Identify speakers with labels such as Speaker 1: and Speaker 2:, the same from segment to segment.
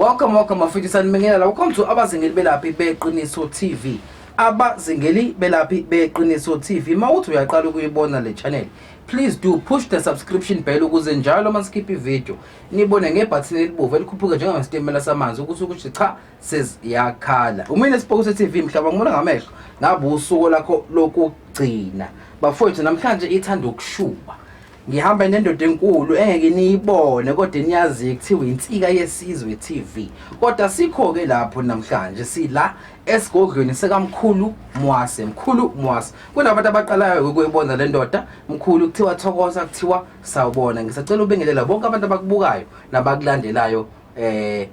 Speaker 1: Welcome, welcome, bafethu sanibingelela. Welcome to abazingeli belaphi beqiniso TV. Abazingeli belaphi beqiniso TV. Mawuthi uyaqala ukuyibona le channel. Please do push the subscription bell ukuze njalo uma sikhipha ivideo nibone ngebhathini elibomvu elikhuphuka njengesitimela samanzi ukuthi ukuthi cha seziyakhala. Umina esibhokuse TV mhlaba ngibona ngamehlo ngabe usuku lakho lokugcina. Bafowethu namhlanje ithanda ukushuba. ngihamba nendoda enkulu engeke niyibone kodwa niyazi kuthiwa insika yesizwe TV kodwa sikho ke lapho namhlanje sila esigodlweni sekamkhulu mwase mkhulu mwase kunabantu abaqalayo ukuyibona le ndoda mkhulu kuthiwa thokoza kuthiwa sawubona ngisacela ubingelela bonke abantu abakubukayo nabakulandelayo eh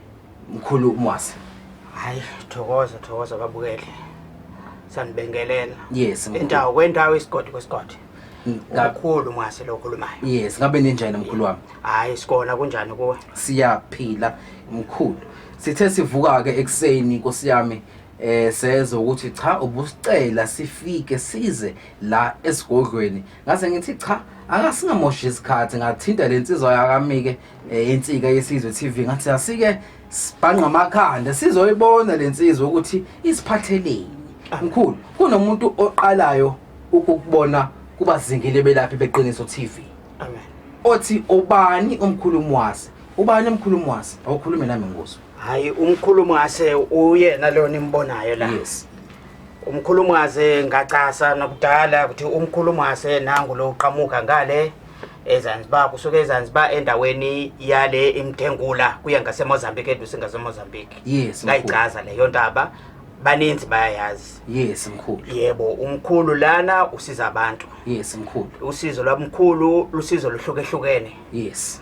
Speaker 1: mkhulu mwase hayi
Speaker 2: thokoza thokoza babukele sanibingelela yes mkhulu. indawo
Speaker 1: kwendawo isigodi kwesigodi
Speaker 2: Nga- kakhulu mwase lo okhulumayo yes ngabe ninjani mkhulu
Speaker 1: wami hayi sikona kunjani
Speaker 2: kuwe siyaphila
Speaker 1: mkhulu Sithe sivuka ke ekseni Nkosi yami eh seze ukuthi cha ubusicela sifike size la esigodlweni ngase ngithi cha akasingamoshi isikhathi ngathinta lensizwa yakamike eh, insika yesizwe TV ngathi asike sibhanqa amakhanda sizoyibona lensizwa ukuthi isiphatheleni mkhulu kunomuntu oqalayo ukukubona kubazingile belaphi beqiniso TV amen
Speaker 2: othi
Speaker 1: obani umkhulumi wase Ubani umkhulu Mwase? Awukhulume nami ngoso. Hayi umkhulu
Speaker 2: Mwase uyena leyo nimbonayo la. Yes. Umkhulu Mwase ngacasa nakudala ukuthi umkhulu Mwase nangu lo uqhamuka ngale eZanzibar kusuke eZanzibar endaweni yale imthengula kuya ngaseMozambique eduze ngaseMozambique. Yes. Ngayicaza leyo ndaba baninzi bayayazi yes mkhulu
Speaker 1: yebo umkhulu
Speaker 2: lana usiza abantu yes mkhulu usizo
Speaker 1: lwamkhulu
Speaker 2: lusizo luhlukehlukene yes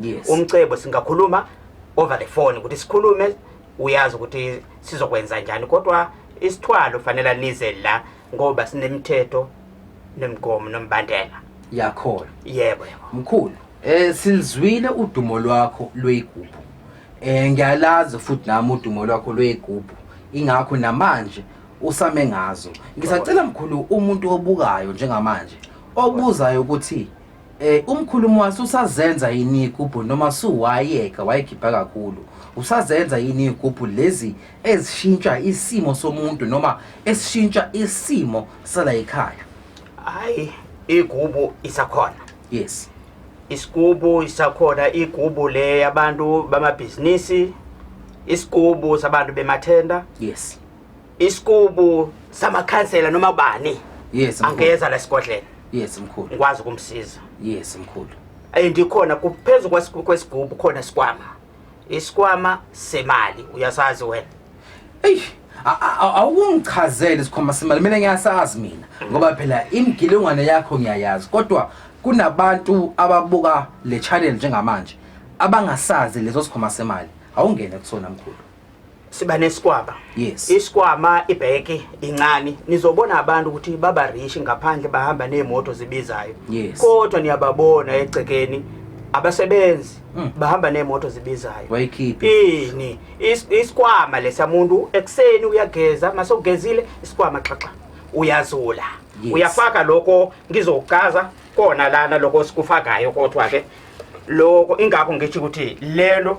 Speaker 2: yes. umcebo singakhuluma over the phone ukuthi sikhulume uyazi ukuthi sizokwenza njani kodwa isithwalo fanele nize la ngoba sinemithetho nemigomo nombandela yakhona
Speaker 1: yebo yebo
Speaker 2: mkhulu
Speaker 1: eh silizwile udumo lwakho lweyigubhu eh ngiyalazi futhi nami udumo lwakho lweyigubhu ingakho namanje usame ngazo ngisacela mkhulu umuntu obukayo njengamanje obuzayo ukuthi Eh umkhulumo waso usazenza yini igubhu noma suwayeka wayegibha kakhulu usazenza yini igubhu lezi ezishintsha isimo somuntu noma esishintsha isimo sala ekhaya hayi
Speaker 2: igubu isakhona yes isigubu isakhona igubu le yabantu bamabhizinisi isigubu sabantu bemathenda yes isikubu samakhansela noma bani yes mkhulu. angeza la sigodlela yes mkhulu
Speaker 1: ngikwazi
Speaker 2: ukumsiza yes mkhulu and ikhona kuphezu kwesigu- kwesigubu khona isikwama isikwama semali uyasazi wena eyi
Speaker 1: a- a- a- awukungichazele isikhwama semali mina ngiyasazi mina ngoba phela imigilingwane yakho ngiyayazi kodwa kunabantu ababuka le channel njengamanje abangasazi leso sikhwama semali awungene kusona mkhulu siba
Speaker 2: nesikwama yes isikwama
Speaker 1: ibheke
Speaker 2: incane nizobona abantu ukuthi baba rich ngaphandle bahamba neemoto zibizayo yes. kodwa
Speaker 1: niyababona
Speaker 2: egcekeni abasebenzi mm. bahamba neemoto zibizayo ini is, isikwama lesa muntu ekuseni uyageza mase ugezile isikwama xaxa uyazula yes. uyafaka
Speaker 1: lokho
Speaker 2: ngizokucaza kona lana lokho sikufakayo kodwa ke lokho ingakho ngithi ukuthi lelo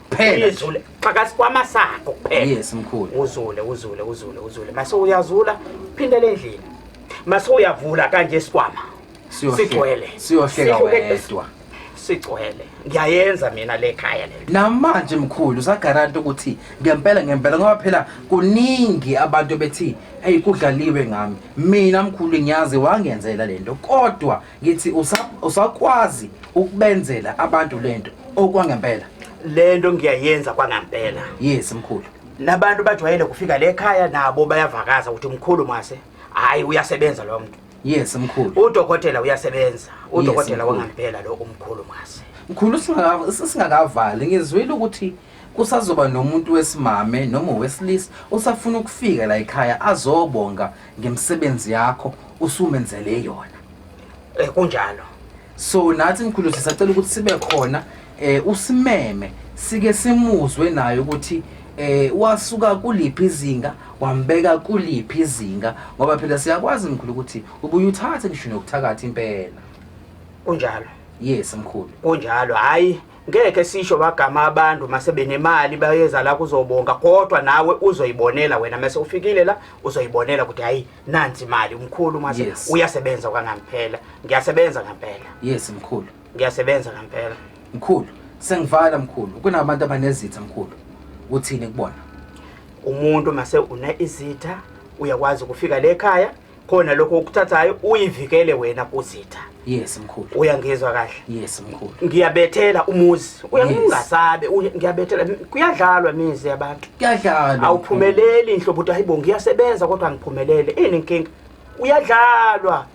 Speaker 2: Kuphela. izule xaka sikwama sakho kuphela Yes mkhulu. uzule
Speaker 1: uzule uzule
Speaker 2: uzule mase uyazula phindele endlini mase uyavula kanje isikwama Siyohle- sigcwele Siyohleka Sihlukene.
Speaker 1: wedwa. sigcwele
Speaker 2: ngiyayenza mina le khaya le Namanje mkhulu
Speaker 1: usagaranta ukuthi ngempela ngempela ngoba phela kuningi abantu bethi hey kudlaliwe ngami. Mina mkhulu ngiyazi wangenzela lento kodwa ngithi usa- usakwazi ukubenzela abantu lento okwangempela le nto
Speaker 2: ngiyayenza kwangampela yes mkhulu
Speaker 1: nabantu bajwayele
Speaker 2: kufika le khaya nabo bayavakaza ukuthi mkhulu mase hhayi uyasebenza lo mntu yes mkhulu
Speaker 1: udokotela uyasebenza
Speaker 2: udokotela mkhulu. wangampela lo umkhulu mase mkhulu singaka-
Speaker 1: singakavali ngizwile ukuthi Kusazoba nomuntu wesimame noma owesilisa osafuna ukufika la ekhaya azobonga ngemisebenzi yakho usumenzele yona. Eh kunjalo.
Speaker 2: So nathi
Speaker 1: mkhulu sisacela ukuthi sibe khona eh usimeme sike simuzwe naye ukuthi eh wasuka kuliphi izinga wambeka kuliphi izinga ngoba phela siyakwazi mkhulu ukuthi ubuye uthathe ngisho nokuthakatha impela kunjalo
Speaker 2: yes
Speaker 1: mkhulu kunjalo hayi
Speaker 2: ngeke sisho bagama abantu masebenemali bayeza la kuzobonga kodwa nawe uzoyibonela wena mase ufikile la uzoyibonela ukuthi hayi nansi imali umkhulu mase yes. uyasebenza kwangampela ngiyasebenza ngempela yes mkhulu
Speaker 1: ngiyasebenza ngempela
Speaker 2: mkhulu
Speaker 1: sengivala mkhulu kunabantu abanezitha mkhulu uthini kubona umuntu
Speaker 2: mase une izitha uyakwazi ukufika le ekhaya khona lokho okuthathayo uyivikele wena kuzitha yes mkhulu
Speaker 1: uyangizwa kahle yes
Speaker 2: mkhulu
Speaker 1: ngiyabethela
Speaker 2: umuzi uyangingasabe ngiyabethela kuyadlalwa imizi yabantu kuyadlalwa
Speaker 1: awuphumeleli inhlobo
Speaker 2: ukuthi hayibo ngiyasebenza kodwa angiphumelele ini inkinga uyadlalwa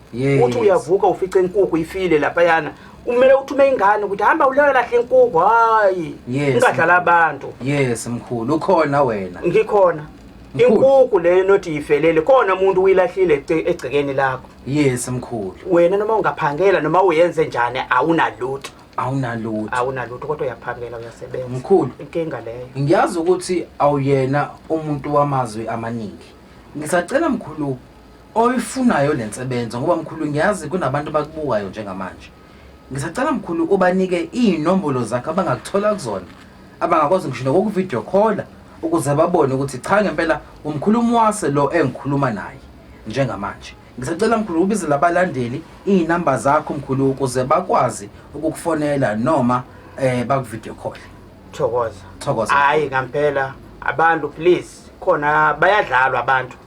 Speaker 2: uthi uyavuka ufice inkukhu ifile lapha yana kumele uthume ingane ukuthi hamba uleyo lahle inkukhu hayi ungadlala abantu yes mkhulu
Speaker 1: ukhona wena ngikhona
Speaker 2: inkuku le nothi yifelele khona umuntu uyilahlile egcekeni lakho yes mkhulu
Speaker 1: wena noma ungaphangela
Speaker 2: noma uyenze njani awunalutho awunalutho awunalutho kodwa uyaphangela uyasebenza mkhulu inkinga
Speaker 1: leyo
Speaker 2: ngiyazi ukuthi
Speaker 1: awuyena umuntu wamazwi amaningi ngisacela mkhulu oyifunayo lensebenzo ngoba mkhulu ngiyazi kunabantu bakubukayo njengamanje Ngisacela mkhulu ubanike iy'nombolo zakhe abangakuthola kuzona abangakwazi ngisho nokokuvidiyo khola ukuze babone ukuthi cha ngempela umkhulumi wase lo engikhuluma naye njengamanje ngisacela mkhulu ubize labalandeli iy'namba zakho mkhulu ukuze bakwazi ukukufonela noma um bakuvidiyo khole thokoza thokoza hhayi ngampela
Speaker 2: abantu please khona bayadlalwa abantu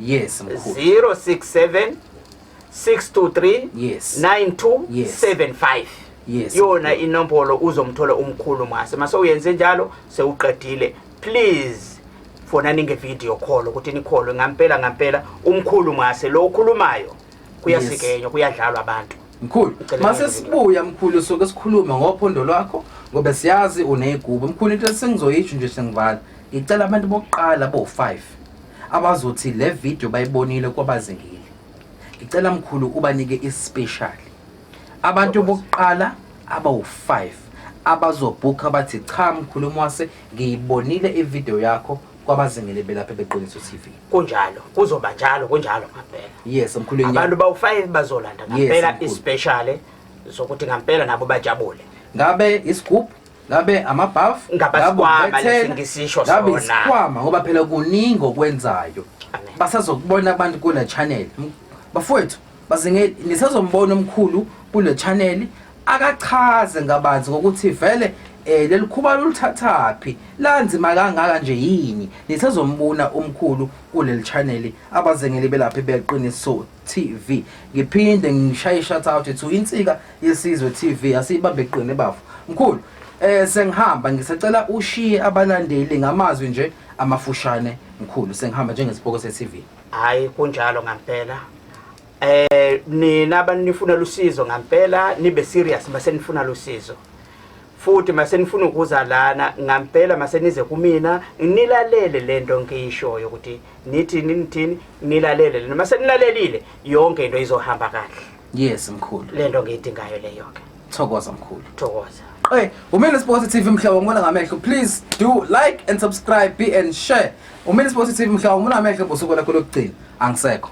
Speaker 2: Yes,
Speaker 1: mkhulu. 067 623
Speaker 2: Yes. 9275 Yes, yona
Speaker 1: inombolo
Speaker 2: uzomthola umkhulu mase mase uyenze njalo sewuqedile please fonani ngevideo call ukuthi nikholwe ngampela ngampela umkhulu mase lo ukhulumayo kuyasikenywa kuyadlalwa abantu mkhulu mase
Speaker 1: sibuya mkhulu soke sikhulume ngophondo lwakho ngoba siyazi uneyigubu mkhulu into sengizoyisho nje sengivala ngicela abantu bokuqala bo-5 abazothi le video bayibonile kwabazekile ngicela mkhulu ubanike ispecial abantu bokuqala abawu-5 abazobhukha bathi cha mkhulu mwase ngiyibonile ivideo yakho kwabazingele belapha beqiniso tv kunjalo kuzoba
Speaker 2: njalo kunjalo ngampela yes mkhulu abantu
Speaker 1: bawufayile
Speaker 2: bazolanda ngampela yes, ispecial zokuthi ngampela nabo bajabule ngabe
Speaker 1: isigubhu ngabe amabhafu
Speaker 2: ngabe isikhwama ngoba phela
Speaker 1: kuningi okwenzayo basazokubona abantu kula channel bafowethu Baze ngisazombona omkhulu kule channel akachaze ngabanzi ngokuthi vele eh leli khuba lolithathaphi lanzima kangaka nje yini nisezombuna umkhulu kuleli channel abazengeli belaphi beqiniso TV ngiphinde ngishaye shout out to insika yesizwe TV asibambe iqine bafo mkhulu eh sengihamba ngisacela ushiye abalandeli ngamazwi nje amafushane mkhulu sengihamba njengesiboko se TV hayi kunjalo
Speaker 2: ngampela eh nina abantu nifuna lusizo ngampela nibe serious mase nifuna lusizo futhi mase nifuna ukuza lana ngampela mase nize kumina nilalele lento ngiyishoyo ukuthi nithi nithini nilalele lena mase nilalelile yonke into izohamba kahle Yes mkhulu.
Speaker 1: Lento ngiyidingayo
Speaker 2: leyo ke. Thokoza mkhulu.
Speaker 1: Thokoza. Hey,
Speaker 2: Umini Sports
Speaker 1: TV mhlobo ngibona ngamehlo. Please do like and subscribe be and share. Umini Sports TV mhlobo ngibona ngamehlo bosuku lakho lokugcina. Angisekho.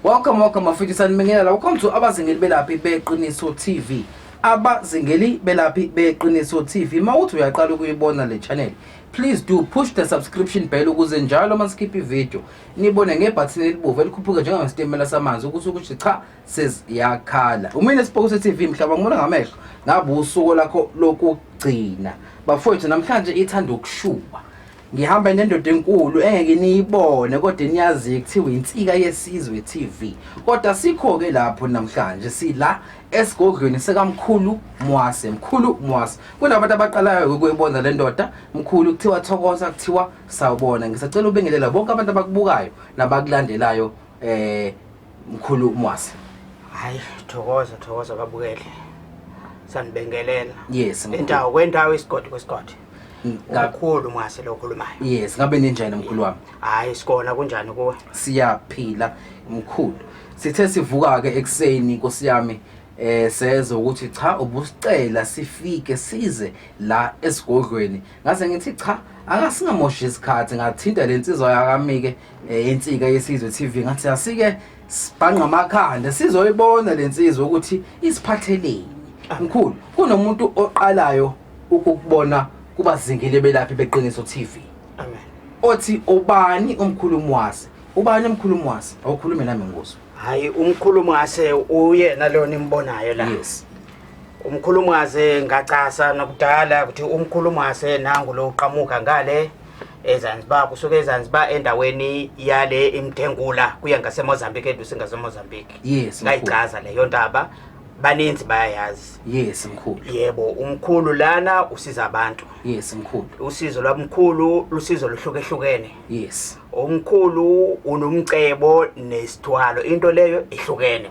Speaker 1: Welcome welcome mafethu sanibingelela. Welcome to abazingeli belaphi beqiniso TV. abazingeli belaphi beqiniso TV mawuthi uyaqala ukuyibona le channel please do push the subscription bell ukuze njalo masikhipha ivideo nibone ngebhathini elibovu elikhuphuke njengesitimela samanzi ukuthi ukuthi cha seziyakhala umine sibhokuse TV mhlaba ngibona ngamehlo ngabe usuku lakho lokugcina bafowethu namhlanje ithanda ukushuba ngihamba nendoda enkulu engeke niyibone kodwa niyazi kuthiwa insika yesizwe TV kodwa sikho ke lapho namhlanje sila esigodlweni sekamkhulu Mwase mkhulu Mwase kunabantu abaqalayo ukuyibona le ndoda mkhulu kuthiwa thokoza kuthiwa Sawubona, ngisacela ubengelela bonke abantu abakubukayo nabakulandelayo eh mkhulu Mwasi. Hayi,
Speaker 2: thokoza thokoza babukele. Sanibingelela. Yes, mkhulu.
Speaker 1: Indawo kwendawo isigodi
Speaker 2: kwesigodi. Nga- Kakhulu Mwasi lo okhulumayo. Yes, ngabe ninjani
Speaker 1: mkhulu wami? Hayi, sikona kunjani
Speaker 2: kuwe? siyaphila
Speaker 1: mkhulu sithe sivuka ke ekseni inkosi yami eh seze ukuthi cha ubusicela sifike size la esigodlweni ngase ngithi cha angasingamoshi isikhathi ngathinta le nsizwa yakamike eh, insika yesizwe TV ngathi asike sibhanqa amakhanda sizoyibona le nsizwa ukuthi isiphatheleni ah. mkhulu kunomuntu oqalayo ukubona kubazingile belaphi beqiniso TV amen
Speaker 2: othi
Speaker 1: ubani umkhulumi wase ubani umkhulumi wase awukhulume nami ngoso hayi umkhulumi
Speaker 2: wase uyena lona imbonayo la yes
Speaker 1: Umkhulu
Speaker 2: Mwase ngacasa nakudala ukuthi umkhulu Mwase nangu lo uqhamuka ngale eZanzibar kusuke eZanzibar endaweni yale imthengula kuya ngaseMozambique eduze ngaseMozambique Yes, mkhulu. ngayichaza
Speaker 1: leyo ndaba
Speaker 2: baninzi bayayazi Yes mkhulu.
Speaker 1: yebo umkhulu
Speaker 2: lana usiza abantu Yes mkhulu.
Speaker 1: usizo lwamkhulu
Speaker 2: lusizo luhlukehlukene Yes.
Speaker 1: umkhulu
Speaker 2: unomcebo nesithwalo into leyo ihlukene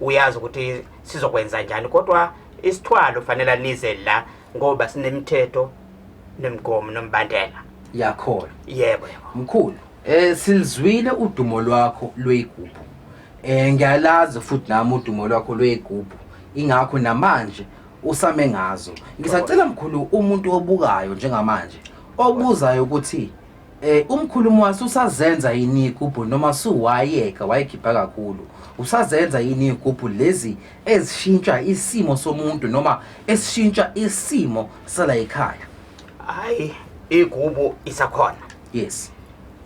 Speaker 2: uyazi ukuthi sizokwenza njani kodwa isithwalo fanele nize la ngoba sinemithetho nemigomo nombandela yakhona
Speaker 1: yebo yebo
Speaker 2: mkhulu
Speaker 1: eh silizwile udumo lwakho lweyigubhu eh ngiyalazi futhi nami udumo lwakho lweyigubhu ingakho namanje usame ngazo ngisacela mkhulu umuntu obukayo njengamanje obuzayo ukuthi Eh umkhulumo wase usazenza yini igubhu noma suwayeka wayikhipha kakhulu usazenza yini igubhu lezi ezishintsha isimo somuntu noma esishintsha isimo sala ekhaya hayi
Speaker 2: igubu isakhona yes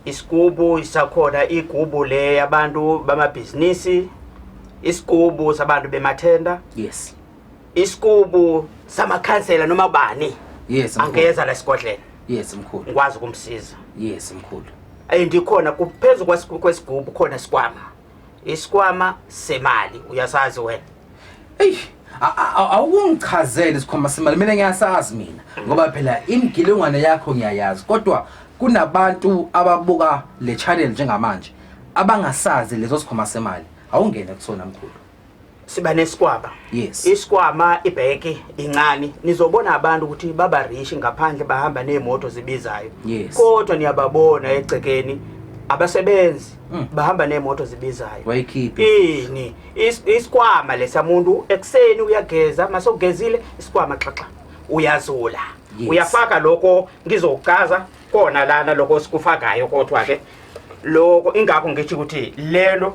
Speaker 1: isigubu
Speaker 2: isakhona igubu le yabantu bamabhizinisi isigubu sabantu bemathenda yes
Speaker 1: isikubu
Speaker 2: samakhansela noma bani yes mkhulu. angeza la
Speaker 1: esigodleni
Speaker 2: yes mkhulu
Speaker 1: ngikwazi
Speaker 2: ukumsiza
Speaker 1: yes
Speaker 2: mkhulu and ikhona kuphezu kwesigu- kwesigubu khona isikwama isikwama semali uyasazi wena eyi a- a- a-
Speaker 1: awukungichazele isikhwama semali mina ngiyasazi mina ngoba phela imigilingwane yakho ngiyayazi kodwa kunabantu ababuka le channel njengamanje abangasazi leso sikhwama semali awungene kusona mkhulu siba
Speaker 2: nesikwama yes isikwama
Speaker 1: ibheke
Speaker 2: incane nizobona abantu ukuthi baba rich ngaphandle bahamba neemoto zibizayo yes. kodwa
Speaker 1: niyababona
Speaker 2: egcekeni abasebenzi mm. bahamba neemoto zibizayo wayikhiphi ini Is, isikwama lesamuntu ekuseni uyageza masogezile isikwama xaxa uyazula yes. uyafaka
Speaker 1: lokho
Speaker 2: ngizokucaza kona lana lokho sikufakayo kodwa ke lokho ingakho ngithi ukuthi lelo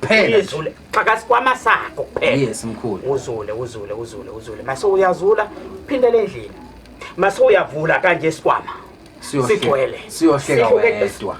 Speaker 2: Kuphela. Izule. Xaka sikwama sakho kuphela. Yes mkhulu. Uzule
Speaker 1: uzule uzule
Speaker 2: uzule. Mase uyazula phindele endlini. Mase uyavula kanje isikwama. Siyohle- Sigcwele. siyohleka Sihlukene.
Speaker 1: wedwa.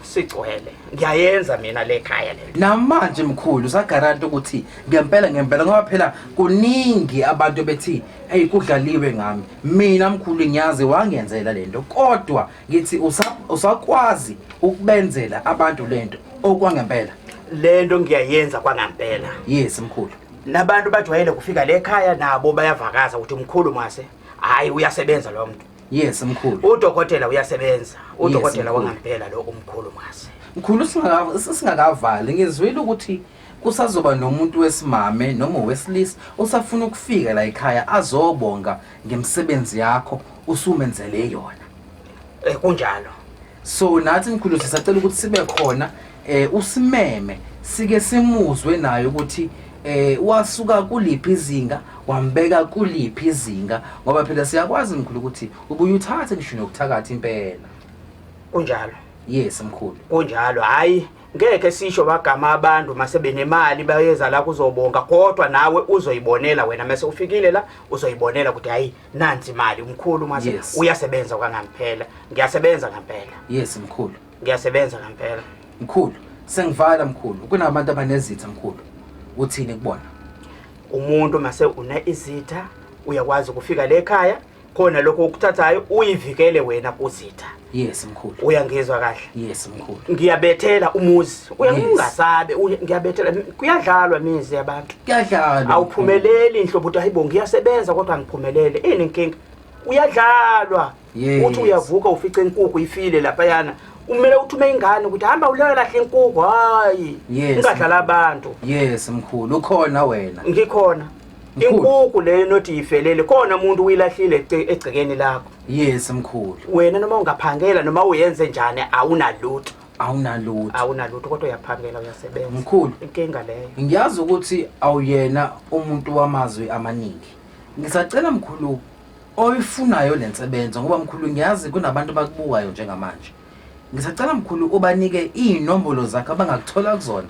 Speaker 1: Sigcwele.
Speaker 2: Ngiyayenza mina le khaya le. namanje mkhulu
Speaker 1: usagaranta ukuthi ngempela ngempela ngoba phela kuningi abantu bethi eyi kudlaliwe ngami mina mkhulu ngiyazi wangenzela lento kodwa ngithi usa- usakwazi ukubenzela abantu lento okwangempela le nto
Speaker 2: ngiyayenza kwangampela yes mkhulu
Speaker 1: nabantu bajwayele
Speaker 2: kufika le khaya nabo bayavakaza ukuthi mkhulu mase hhayi uyasebenza lo mntu yes mkhulu
Speaker 1: udokotela uyasebenza
Speaker 2: udokotela mkhulu. wangampela lo umkhulu mase mkhulu singaka-
Speaker 1: singakavali ngizwile ukuthi Kusazoba nomuntu wesimame noma owesilisa osafuna ukufika la ekhaya azobonga ngemisebenzi yakho usumenzele yona. Eh kunjalo.
Speaker 2: So nathi
Speaker 1: mkhulu sisacela ukuthi sibe khona eh usimeme sike simuzwe naye ukuthi eh wasuka kuliphi izinga wambeka kuliphi izinga ngoba phela siyakwazi mkhulu ukuthi ubuye uthathe ngisho nokuthakatha impela kunjalo
Speaker 2: yes
Speaker 1: mkhulu kunjalo hayi
Speaker 2: ngeke sisho bagama abantu masebenemali bayeza la kuzobonga kodwa nawe uzoyibonela wena mase ufikile la uzoyibonela ukuthi hayi nansi imali umkhulu mase yes. uyasebenza kwangampela ngiyasebenza ngempela yes mkhulu
Speaker 1: ngiyasebenza ngempela
Speaker 2: mkhulu
Speaker 1: sengivala mkhulu kunabantu abanezitha mkhulu uthini kubona umuntu
Speaker 2: mase une izitha uyakwazi ukufika le ekhaya khona lokho okuthathayo uyivikele wena kuzitha yes mkhulu
Speaker 1: uyangizwa kahle
Speaker 2: yes mkhulu
Speaker 1: ngiyabethela
Speaker 2: umuzi uyangasabe ngiyabethela kuyadlalwa imizi yabantu kuyadlalwa
Speaker 1: awuphumeleli inhlobo
Speaker 2: ukuthi hayibo ngiyasebenza kodwa angiphumelele ini inkinga uyadlalwa uthi uyavuka ufice inkukhu ifile lapha yana kumele uthume ingane ukuthi hamba uleyo lahle inkukhu hayi ungadlala abantu yes mkhulu
Speaker 1: ukhona wena ngikhona
Speaker 2: inkuku leyo nothi yifelele khona umuntu uyilahlile egcekeni lakho yes mkhulu
Speaker 1: wena noma ungaphangela
Speaker 2: noma uyenze njani awunalutho awunalutho awunalutho kodwa uyaphangela uyasebenza mkhulu inkinga
Speaker 1: leyo
Speaker 2: ngiyazi ukuthi
Speaker 1: awuyena umuntu wamazwi amaningi ngisacela mkhulu oyifunayo le nsebenzo ngoba mkhulu ngiyazi kunabantu abakubukayo njengamanje Ngisacela mkhulu ubanike iy'nombolo zakhe abangakuthola kuzona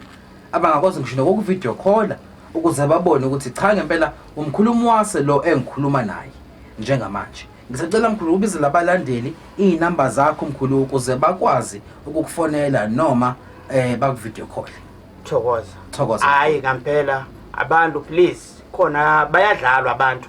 Speaker 1: abangakwazi ngisho nokokuvidiyo khola ukuze babone ukuthi cha ngempela umkhulu umwase lo engikhuluma naye njengamanje ngisacela mkhulu ubizele abalandeli iy'namba zakho mkhulu ukuze bakwazi ukukufonela noma um bakuvidiyo khohle thokoza Thokoza. hayi ngampela
Speaker 2: abantu please khona bayadlalwa abantu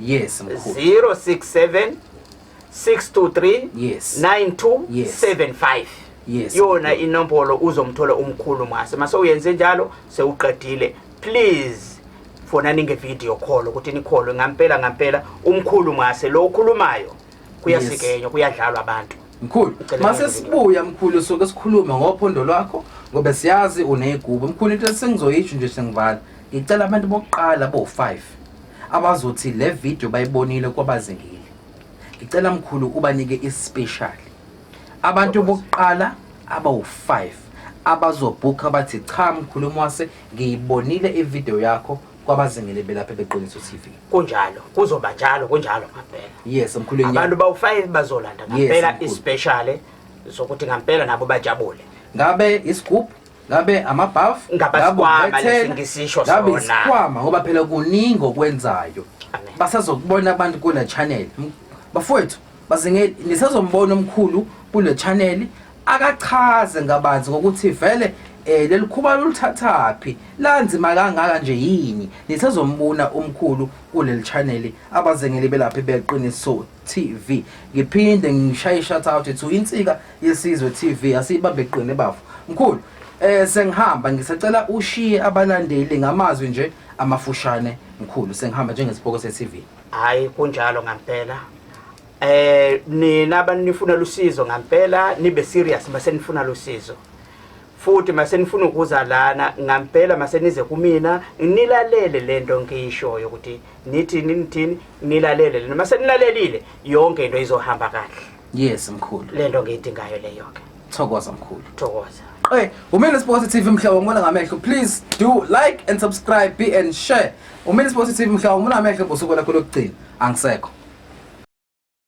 Speaker 1: Yes, mkhulu. 067 623
Speaker 2: Yes. 9275 Yes. yona
Speaker 1: inombolo
Speaker 2: uzomthola umkhulu mase mase uyenze njalo sewuqedile please fonani ngevideo call ukuthi nikholwe ngampela ngampela umkhulu mase lo ukhulumayo kuyasikenywa kuyadlalwa abantu Mkhulu, Ngicela mase ngibuye.
Speaker 1: sibuya mkhulu soke sikhulume ngophondo lwakho ngoba siyazi uneyigubu. Mkhulu into esengizoyisho nje sengivala. Ngicela abantu bokuqala bo5 abazothi le video bayibonile kwabazingile ngicela mkhulu ubanike ispecial abantu bokuqala abawu-5 abazobhukha bathi cha mkhulu mwase ngiyibonile ivideo yakho kwabazingile belapha beqiniso TV kunjalo kuzoba
Speaker 2: njalo kunjalo ngampela yes mkhulu
Speaker 1: abantu bawu-5
Speaker 2: bazolanda ngampela yes, ispecial zokuthi ngampela nabo bajabule ngabe
Speaker 1: isigubhu ngabe amabhafu Ngabe isikhwama lesi
Speaker 2: ngisisho ngabe sona. isikhwama ngoba
Speaker 1: phela kuningi okwenzayo Amen. basazokubona abantu kule channel M- bafowethu bazinge nisazombona omkhulu kule channel akachaze ngabanzi ngokuthi vele eh leli khuba lolithathaphi lanzima kangaka nje yini nisazombona omkhulu kuleli channel abazengeli belaphi beqiniso TV. Ngiphinde ngishaye shout out to Insika Yesizwe TV asiyibambe qine bafo. Mkhulu, eh sengihamba ngisacela ushiye abalandeli ngamazwi nje amafushane mkhulu sengihamba njengesiboko se TV. Hayi kunjalo
Speaker 2: ngampela. Eh nina abanifunela usizo ngampela nibe serious base nifuna losizo. futhi masenifuna ukuza lana ngampela masenize kumina nilalele lento ngiyishoyo ukuthi nithini nithini nilalele lento masenilalelile yonke into izohamba kahle yes mkhulu
Speaker 1: lento ngiyidingayo
Speaker 2: leyo ke thokoza mkhulu
Speaker 1: thokoza Hey,
Speaker 2: Umini Sports
Speaker 1: TV mhla wangibona ngamehlo. Please do like and subscribe, be and share. Umini Sports TV mhla wangibona ngamehlo bosuku lakho lokugcina. Angisekho.